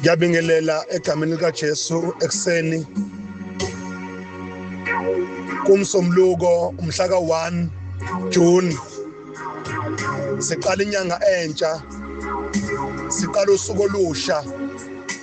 ngiyabingelela egameni likaJesu ekuseni kumsomluko umhla ka-1 June siqala inyanga entsha siqala usuku olusha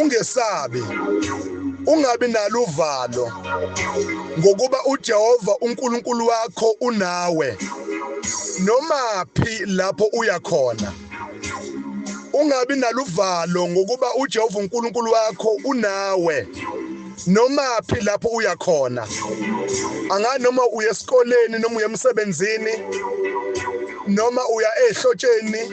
Ungesabi. Ungabi nalo uvalo ngokuba uJehova uNkulunkulu wakho unawe noma phi lapho uya khona. Ungabi naluvalo ngokuba uJehova uNkulunkulu wakho unawe noma phi lapho uya khona. Anga noma uye esikoleni noma uye emsebenzini noma uya ehlotsheni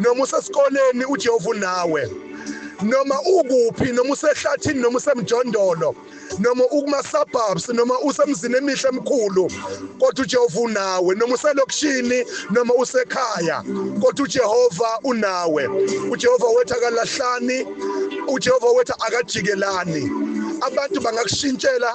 noma usesikoleni uJehova unawe noma ukuphi noma usehlathini noma usemjondolo noma ukuma suburbs noma usemzini emihle emkhulu kodwa uJehova unawe noma uselokishini noma usekhaya kodwa uJehova unawe uJehova wethu akalahlani uJehova wethu akajikelani abantu bangakushintshela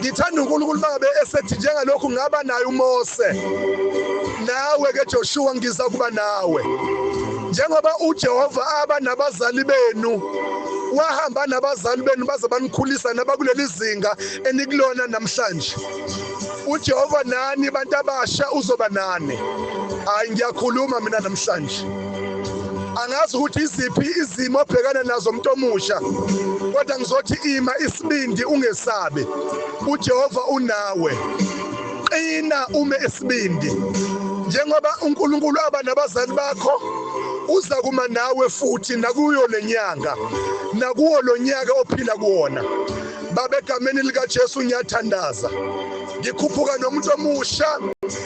ngithanda uNkulunkulu mangabe esethi njengalokhu ngaba naye uMose nawe ke Joshua ngiza kuba nawe njengoba uJehova aba nabazali benu wahamba nabazali benu baze banikhulisa nabakuleli zinga enikulona namhlanje uJehova nani bantu abasha uzoba nani hayi ngiyakhuluma mina namhlanje angazi ukuthi iziphi izimo obhekana nazo umuntu omusha kodwa ngizothi ima isibindi ungesabi uJehova unawe qina ume isibindi njengoba uNkulunkulu aba nabazali bakho uza kuma nawe futhi nakuyo lenyanga nakuwo lonyaka ophila kuwona babegameni likaJesu ngiyathandaza ngikhuphuka nomuntu omusha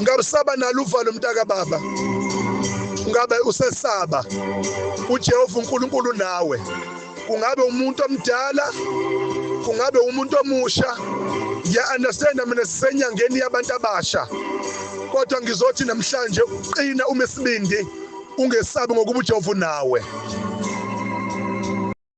ngabe usaba nalo uvalo mntaka baba ngabe usesaba uJehova uNkulunkulu nawe kungabe umuntu omdala kungabe umuntu omusha ya understand mina sisenyangeni yabantu abasha kodwa ngizothi namhlanje uqina uma isibindi ungesabi ngokuba uJehova nawe